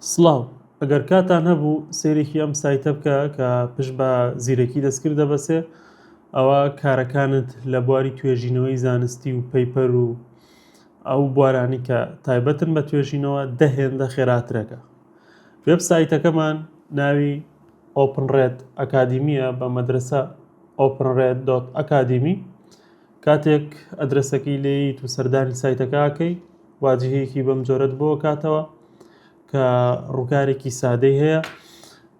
سڵاو ئەگەر کاتان هەبوو سەیرێکی ئەم سایتە بکە کە پشت بە زیرەکی دەستکرد دەبەسێ ئەوا کارەکانت لە بواری توێژینەوەی زانستی و پەیپەر و ئەو بوارانی کە تایبەتن بە توێژینەوە دە هێندە خێراترەکە وێب سایتەکەمان ناوی ئۆپنڕێت ئەکادیمیە بە مەدرسە ئۆپنڕێت دۆت ئەکادیمی کاتێک ئەدرەسەکەی لێیت و سەردانی سایتەکە ئەکەی واجهەیەکی بەم جۆرەت بۆ کاتەوە کە ڕووکارێکی سادەی هەیە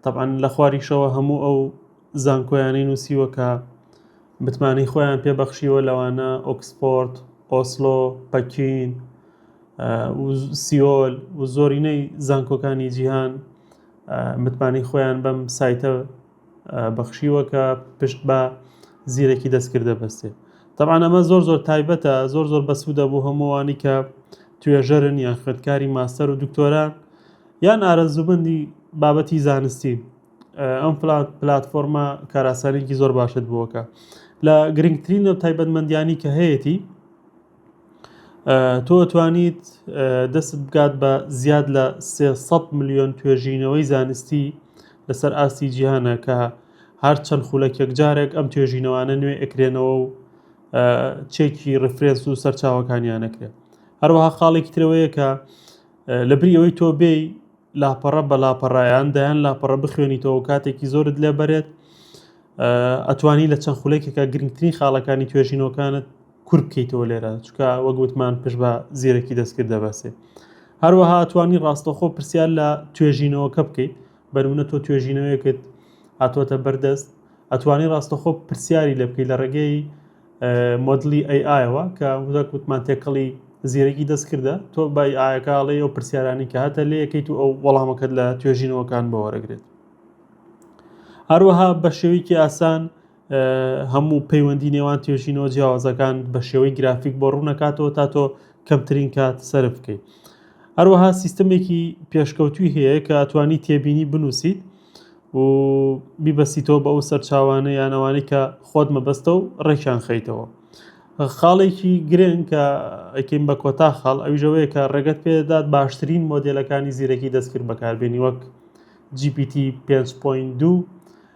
طبعاً لە خواریشەوە هەموو ئەو زانکۆیانەی نووسیوە کە متمانەی خۆیان پێبەخشیوە لەوانە ئۆکسفۆرد ئۆسلۆ پەکین سیۆل و زۆرینەی زانکۆکانی جیهان متمانەی خۆیان بەم سایتە بەخشیوە کە پشت بە زیرەکی دەستکرد دەبەستێت طبعا ئەمە زۆر زۆر تایبەتە زۆر زۆر بەسوودە بۆ هەمووانی کە توێژەرن یان خوێندکاری ماستەر و دکتۆرە یان ئارەزووبندی بابەتی زانستی ئەم پلتفۆرمە کاراسانێکی زۆر باشت بووەکە لە گرنگترین و تایبەتمەندیانی کە هەیەی تۆ توانیت دەستت بگات بە زیاد لە ٣٠٠ ملیۆن توێژینەوەی زانستی لەسەر ئاستی جیهانە کە هەر چەند خولەکێک جارێک ئەم توێژینەوانە نوێ ئەکرێنەوە و چێکی ڕفرێنس و سەرچاوەکانیان ئەکرێت هەروەها خاڵێکی ترەوەیە کە لە بری ئەوەی تۆ بێی لاپەڕە بە لاپەڕایان دەیان لاپەڕە بخوێنیتەوە کاتێکی زۆرت لێبەرێت ئەتوانی لە چەند خولێکێکە گرنگترین خاڵەکانی توێژینەوەکانت کور بکەیتەوە لێرە چکە وەک وتمان پشت بە زیرەکی دەستکرد دەبەسێ هەروەها توانی ڕاستەخۆ پرسیار لە توێژینەوەکە بکەیت بەرونە تۆ توێژینەوەیەکت هاتووەتە بەردەست ئەتوانی ڕاستەخۆ پرسیاری لە بکەیت لە ڕێگەی مۆدلی ئەیئایەوە کە وەک وتمان تێکەڵی زیرەکی دەست کردە تۆ بای ئاەکەڵێ ئەو پرسیارانی کە هاتە لێ یەکەیت و ئەو وەڵامەکەت لە توێژینەوەکان بەوەرەگرێت هەروەها بە شێوەیەکی ئاسان هەموو پەیوەندی نێوان توێژینەوە جیاوازەکان بە شێوەی گرافیک بۆ ڕوونەکاتەوە تا تۆ کەمترین کات سەرف بکەیت هەروەها سیستمێکی پێشکەوتوی هەیە کە ئەتوانی تێبینی بنووسیت و بیبەستیتەوە بە ئەو سەرچاوانە یانەوانی کە خۆت مەبەستە و ڕێکیان خەیتەوە خاڵێکی گرنگ کە ئەکەین بە کۆتا خاڵ ئەویژەوەیە کە ڕێگەت پێدات باشترین مۆدلەکانی زیرەکی دەستکرد بەکاربیێنی وەک GPT 5.2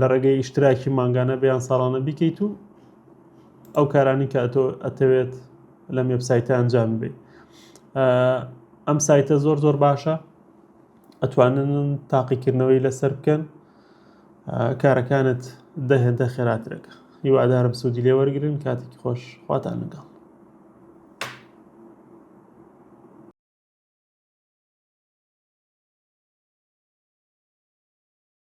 لە ڕێگەی ئیشتراکی مانگانە بیان ساڵانە بیکەیت و ئەو کارانی کە ئەتۆ ئەتەوێت لە مێبسایتە ئەنجام بێ ئەم سایتە زۆر زۆر باشە ئەتوانن تاقیکردنەوەی لەسەر بکەن کارەکانت دەهێندە خێراترەکە هیوادارم سوودی لێ وەرگن کاتێکی خۆش خواتان لەگەڵ